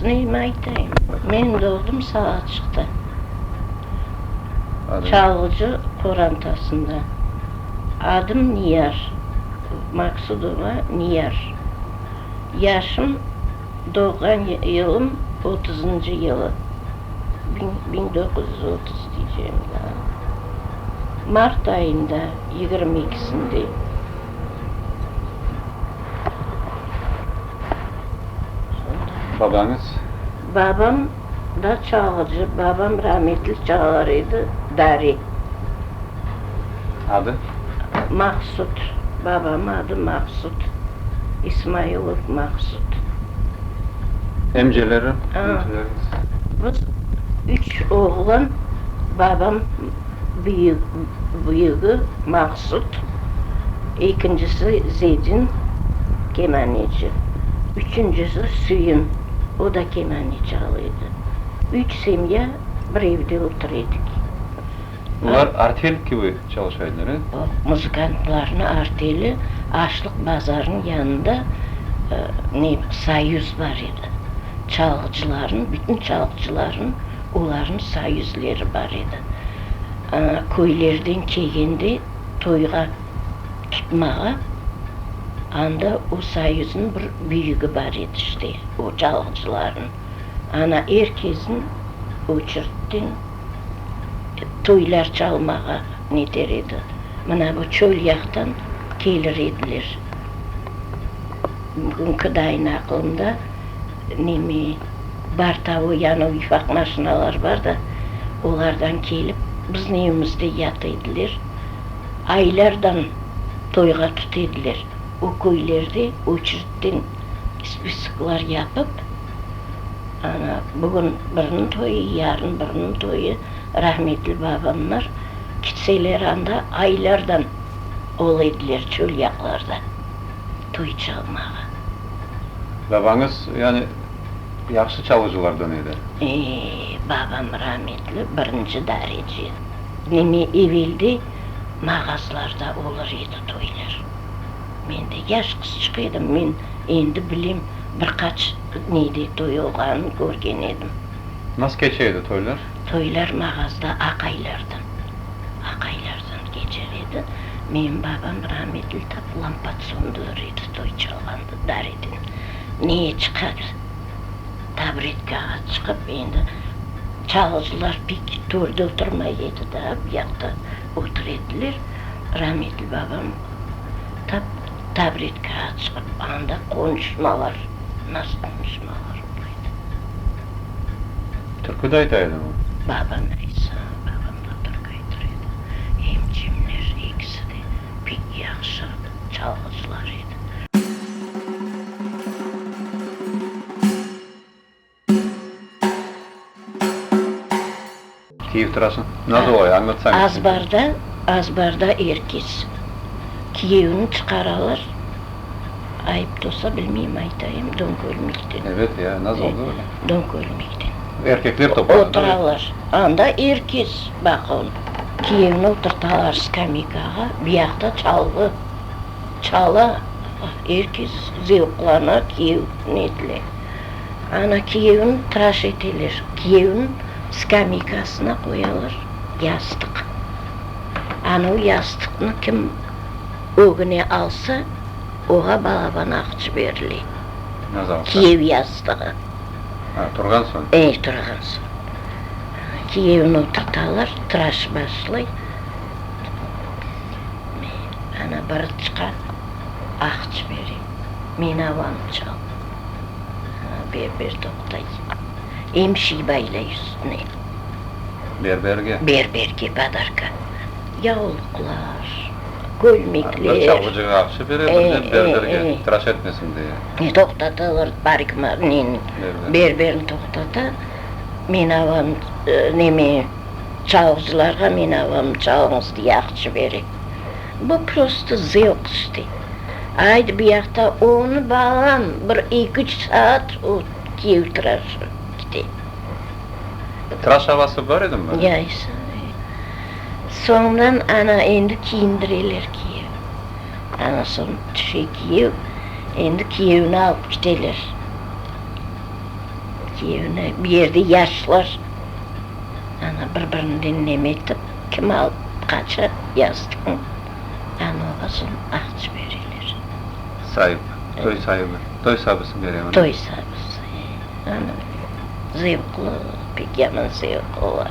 Qızınıym aytayım, men doğdım Salacıqta, Çalğıcı qorantasında. Adım Niyaz, Maqsudova Niyaz. Yaşım, doğğan yılım otuzıncı yılı, biñ doquz yüz otuz diycem da, mart ayında, yigirmi ikisinde. Babañız? Babam. Da çalğıcı, babam rametli çalar edi, dari. Adı? Maqsut. Babam adı Maqsut. İsmailov Maqsut. Emceleri, iniçileriñiz? Biz üç oğlan, babam büyük, büyügi Maqsut, ekincisi Zedin, kemaneci, üçüncisi Süyün. O da kenane çal edi. Üç semya bir evde otur edik. Bular artel kibi çalışa ediler, e? Oq, muzıkantlarnıñ arteli Açlıq bazarınıñ yanında ne, soyuz bar edi. Çalğıcılarnıñ, bütün çalğıcılarnıñ olarnıñ soyuzleri bar edi. Aña köylerden kelgende toyğa tutmağa, anda o soyuznıñ bir büyügi bar edi işte, o çalğıcılarnıñ. Ana er kesin oçertden toylar çalmağa neter edi. Mına bu çöl yaqtan kelir ediler. Bugünki dayın aqılımda neme, bar tavı yanı uyfaq maşinalar bar da, olardan kelip, bizni evimizde yat ediler. aylardan toyğa tut ediler. O köylerde oçeritten spisklar yapıp, ana, bugün biriniñ toyı, yarın biriniñ toyı, rahmetli babamlar kitseler anda aylardan ol ediler çölyaqlarda toy çalmağa. Babañız, yani, yahşı çalğıcılardan edi? Ee, babam rahmetli, birinci darece. Neme eveldi mağazlarda olur edi toylar. Men de yaş qızçıq edim, men endi bilem, bir qaç nede toy olğanın körgen edim. Nasıl keçe edi toylar? Toylar mağazda aqaylardan, aqaylardan keçer edi. Menim babam rametli tap lampat söndürür edi toy çalğanda, dareden neye çıqadı. tabretka at çıqıp, endi çalğıcılar pek törde oturmay edi da, bu yaqta otur ediler. Rametli babam tap tabretka at çıqıp, anda qonuşmalar, nasıl qonuşmalar ola edi. Türküde ayta edi mi? Babam aytsa, babam da türkü aytır edi. Emcimler ekisi de pek yahşı çalğıcılar edi. Kiyev tırası? Nasıl olay? Añlatsañız. Azbarda, azbarda er kes kiyevini çıqaralar, ayıp da olsa, bilmeyim, aytayım, don körmekten. Evet ya, nasıl oldı böyle? Don körmekten. Erkekler toplandı. Oturalar. Anda er kes, baqıñ, kiyevni oturtalar skameykağa, biyaqta çalğı. Çala, er kes zevqlana kiyev netle. Ana kiyevni traş eteler, kiyevni skameykasına qoyalar yastıq. Ana o yastıqnı kim ögüne alsa, oğa balaban aqçı berile. Naz alsa. Kiyev yastığı. Ha, turğan soñ. E, turğan soñ. Kiyevni oturtalar, traş başlay. Ana bir çıqa, ah cibere. Men avanım çaldı. Ana berber toqtay. Em şey baylay üstüne. Berberge? Berberge badarka. Yavluqlar, kölmekler. Bir çalğıcığa aqşa bere, bir de berberge tıraş etmesin diye. E, toqtatalar, barik neni, berberni toqtata. Men avanım, neme, çalğıcılarğa men avanım çalıñız diye ah cibere. Bu prosto zevqsti. Ayt biyaqta onı balam bir eki-üç saat ötkev tıraşı kite. Tıraş avası bar edimi? Yaysa ne. Soñdan ana endi kiyindireler kiyevni. Ana soñ tüşe kiyev, endi kiyevni alıp kiteler. Kiyevni, bu yerde yaşlar ana bir-birinden neme etip. Kemal qaça yazdıqnı añlasın aqç beriler. Saip, toy saibi, toy sabısı bere onı. Toy sabısı, e, anı zevqlı, pek yaman zevq ola.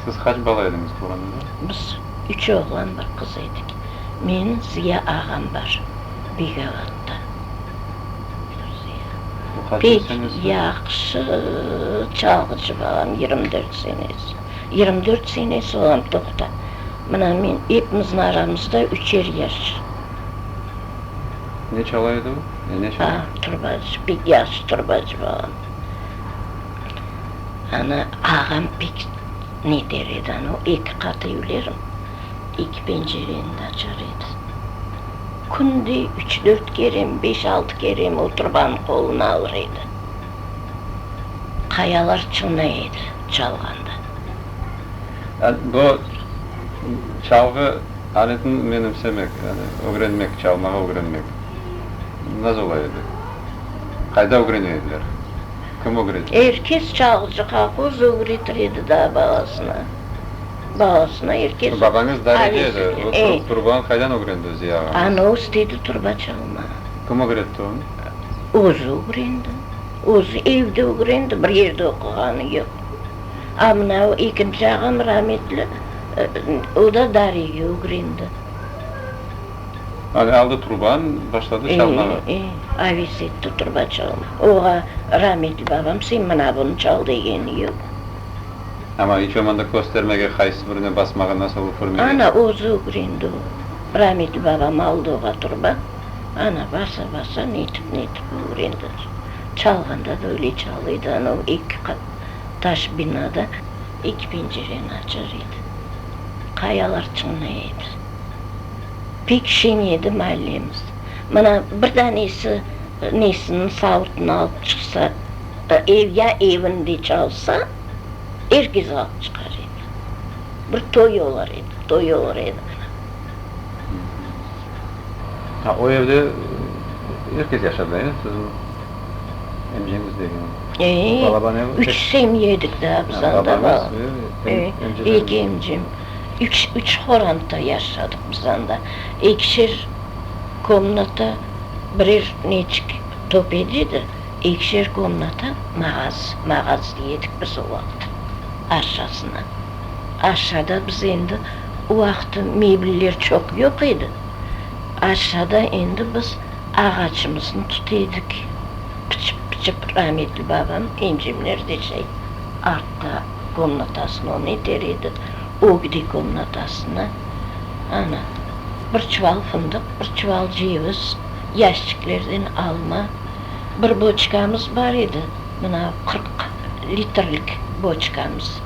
Siz qaç bala ediñiz tuğranda? Biz üç oğlan, bir qız edik. Men, Ziya ağam bar, Biygavattan. O qaç yaşañız var? Yahşı çalğıcı balam, yirmi dört senesi. Yirmi dört senesi olam toqta. Mına men, epimizni aramızda üçer yaş. Ne çala edi o? Ya ne çala? Aa, turbacı, pek yahşı turbacı bala edi. Ana, ağam pek ne der edi, ana, o eki qat evlerim, eki pencereni de açar edi. Künde üç, dört kerem, beş, altı kerem o turbanı qoluna alır edi. Qayalar çınlay edi çalğanda. Bu çalğı aletini menimsemek, yani ögrenmek, çalmağa ögrenmek nasıl ola edi? Qayda ögrene ediler? Kim ögretedi? Er kes çalğıcı, kolhoz ögretir edi da balasına. Balasına er kes. Babañız dareci edi, o turbanı qaydan ögrendi Ziya ağañız? Anı östedi turba çalmağa. Kim ögretti onı? Özü ögrendi. Özü evde ögrendi, bir yerde oquğanı yoq. A mına o ekinci ağam rametli, o da Dariya Ugrindı. Avi aldı turban, başladı çalmağa. E, e, avi setti turba çalma. Oğa rametli babam, sen mına bunı çal degeni yoq. Amma iç olmanda köstermege, qaysı birine basmağa, nasıl üfürmege. Ana özü Ugrindı o. Rametli babam aldı oğa turba, ana basa-basa netip-netip Ugrindı. Çalğanda da öyle çalıydı, ana o eki qat Taş binada eki pencereni açar edi. Qayalar çınlay edi. Pek şeñ edi maallemiz. Mına, bir danesi nesiniñ savutını alıp çıqsa, ev ya evinde çalsa, er kes alıp çıqar edi. Bir toy olar edi, toy olar edi mına. Ha, o evde er kes yaşadı, eyi? Siz. Emceñiz degeniñ. Eee, Balabanevniñ üç tek- semya edik da biz Ha, anda. babañız ve em- Eee, emceleriniñ. eki emcem. Üç, üç horantda yaşadıq biz anda. Ekişer komnata, birer neçik top edi edi, ekişer komnata mağaz, mağaz diyedik biz o vaqıt aşasına. Aşada biz endi o vaqıt mebller çoq yoq edi. Aşada endi biz. Ağaçımıznı tut edik, pıçıp-pıçıp rametli babam incimler deşey, artta komnatasına onı iter edi, o gide komnatasına, ana, bir çuval fındıq, bir çuval ceviz, yaşçiklerden alma, bir boçkamız bar edi, mına qırq litrlik boçkamız,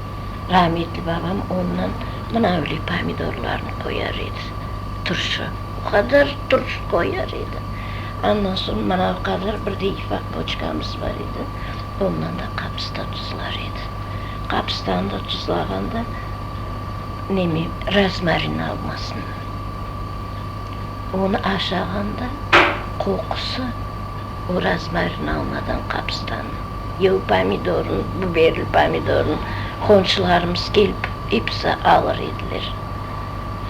rametli babam ondan mınavli pomidorlarnı qoyar edi, turşu. O qadar turş qoyar edi. Andan soñ mana o qadar bir de ifaq boçkamız bar edi, ondan da qapıstan tuzlar edi. Qapıstan da tuzlağanda neme, rozmarin almasın. Onı aşağanda qoqusı o rozmarin almadan qapıstannıñ, ya o pomidornıñ, biberli pomidornıñ qonşularımız kelip episi alır ediler.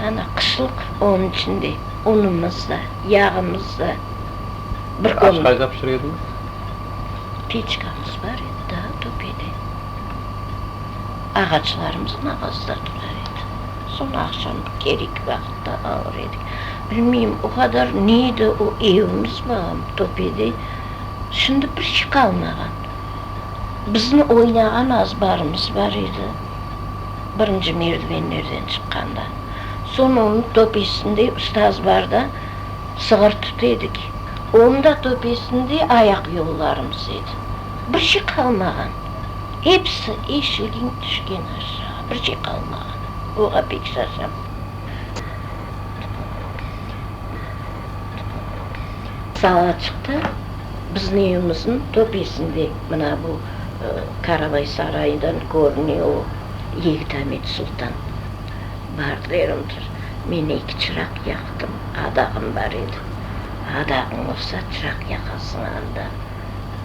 Ana, qışlıq, onıñ içün de unumız da, yağımız da. Aş qayda pişire ediñiz? Peçkamız bar edi daa, töpede. Ağaçlarımıznıñ ağazında turar edik. Soñ aqşam kerek vaqıtta alır edik. Bilmeyim, o qadar ne edi o evimiz, balaam, töpede. Şimdi bir şey qalmağan. Bizni oynağan azbarımız bar edi, birinci merdivenlerden çıqqanda. Soñ onı töpesinde, üstü azbarda sığır tut edik. Onı da töpesinde ayaq yollarımız edi. Bir şey qalmağan. Episi eşilgen, tüşken aşağı. Bir şey qalmağan. Oğa pek şaşam. Sala çıqtı. Bizni evimizniñ töpesinde, mına bu Karabay sarayından körüne o yigit Amet Sultan bar derimdir. Men eki çıraq yaqtım, adağım bar edi. Adağıñ olsa, çıraq yaqasıñ anda.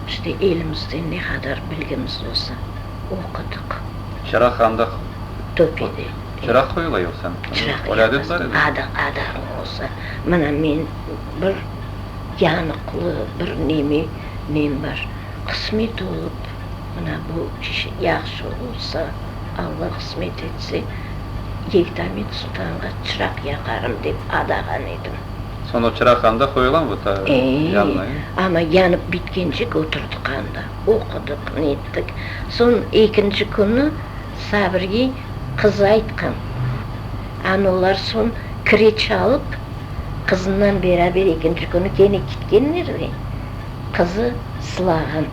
İşte elimizden ne qadar bilgimiz olsa, oqudıq. Çıraq anda. Töpede. Çıraq qoyula yoqsa? Çıraq yaqasıñ, adağıñ olsa. Mına men. Bir yanıqlı, bir neme men bar. Qısmet olıp, mına bu yahşı olsa, Alla qısmet etse, Yektamet Sultanğa çıraq yaqarım dep adağan edim. Soñ o çıraq anda qoyulam bu ta yanına, e? Amma yanıp bitkencik oturdıq anda, oqudıq, nettik. Soñ ekinci künü Sabirge qız aytqan, anolar soñ kire çalıp, Qızınan beraber ekinci künü kene ketkenler ve qızı sılağan.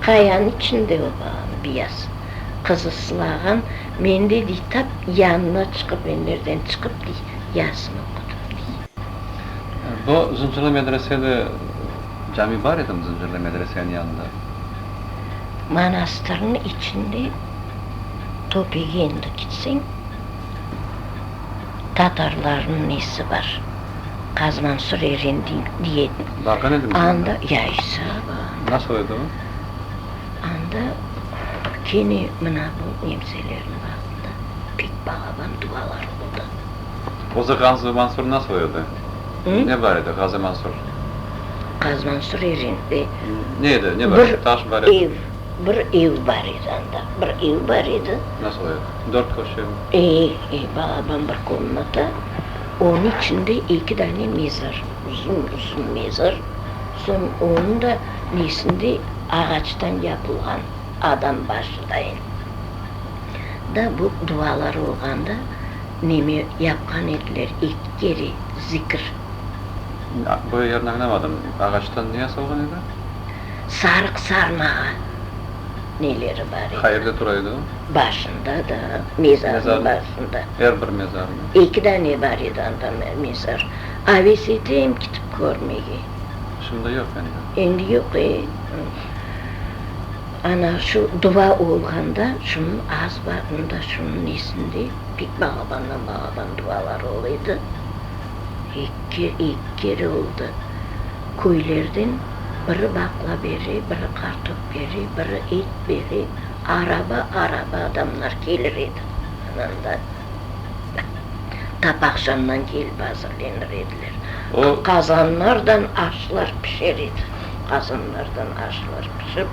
Qayanıñ içinde o balanı biyaz. Qızı sılağan, men de, dey, tap yanına çıqıp, men merden çıqıp, dey, yarısını oqudım, dey. Bu Zıncırlı medresede cami bar edimi, Zıncırlı medresenin yanında? Manastırnıñ içinde Topege endi ketseñ. Tatarlarnıñ nesi bar? Qaz Mansur Eren diyen. Barğan edimiz anda. Anda, ya, isabı. Nasıl edi o? Anda kene mına bu nemselerniñ vaqtında pek balaban duvalar oldı. Özü Qaz Mansur nasıl edi? Ne bar edi Qaz Mansur? Qaz Mansur Eren. Ne edi, ne bar edi? Taş bar edi. Bir ev bar edi anda, bir ev bar edi. Nasıl ev? Dört köşeli? E, e, balaban bir komnata, onıñ içinde eki dane mezar, uzun, uzun mezar, soñ onıñ da nesinde ağaçtan yapılğan adam başı dayın. Da bu dualar olğanda neme yapqan ediler, eki kere zikir. Böyle yerni añlamadım, ağaçtan ne yasalğan edi? sarıq sarmağa neleri bar edi? Qayerde tura edi o? Başında da, mezarnıñ başında. Er bir mezarnıñ? Eki dane bar edi anda mezar. Aves eteyim kitip körmege. Şimdi yoq endi. Endi yoq, e. Ana şu duva olğanda şunıñ az barında, şunıñ esinde pek balabandan-balaban duvalar ol edi. Eki kere oldı. Köylerden biri baqla bere, biri qartop bere, biri et bere. Araba-araba adamlar kelir edi. Ananda tap aqşamdan kelip azırlenir ediler. Qazanlardan aşlar pişer edi. Qazanlardan aşlar pişip,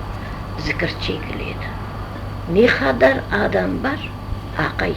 zikir çekile edi. Ne qadar adam bar, aqay?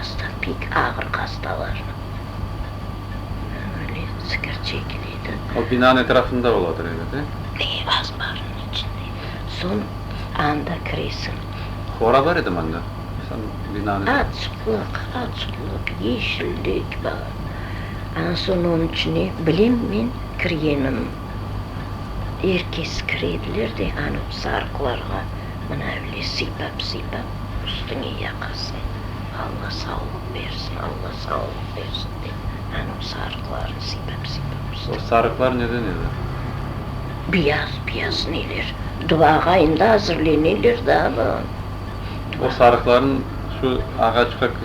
Asta pek ağır hastalar öyle sigir çekiledi. O binanıñ etrafında oladır evet, e? E, asbarnıñ içinde. Soñ anda kiresiñ. Hora bar edim anda, son binanıñ etrafında. Açıqlıq, açıqlıq, yeşillik bar. Anan soñ onıñ içine bilem men kirgenim. Er kes kire ediler de, anı sarıqlarğa mına öyle sıypap-sıypap. Üstüñe yaqasın, Alla sağlıq bersin, Alla sağlıq bersin, dep, anıñ sarıqlarını sipap-sipap üstüne. O sarıqlar neden edi? Biyaz-biyaz neler, duağa endi azırleneler da anam. O sarıqlarnı şu ağaçqa kı.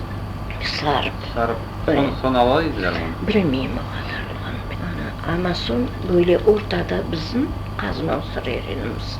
Sarıp. Sarıp, soñ, soñ ala ediler onı? Bilmeyim o qadarlığını, ana, amma soñ böyle ortada bizim qazma usır erenimiz.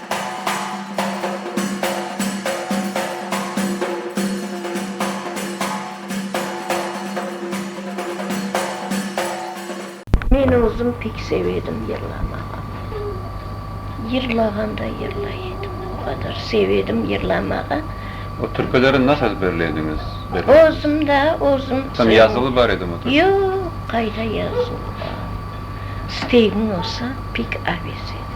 Men özüm pek seve edim yırlamağa. Yırlağanda yırlay edim. O qadar seve edim yırlamağa. O türküleri nasıl ezberley ediñiz? Özüm da, özüm. Tam yazılı bar edimi o türküler? Yoq, qayda yazılı bar. İstegiñ olsa, pek aves edi.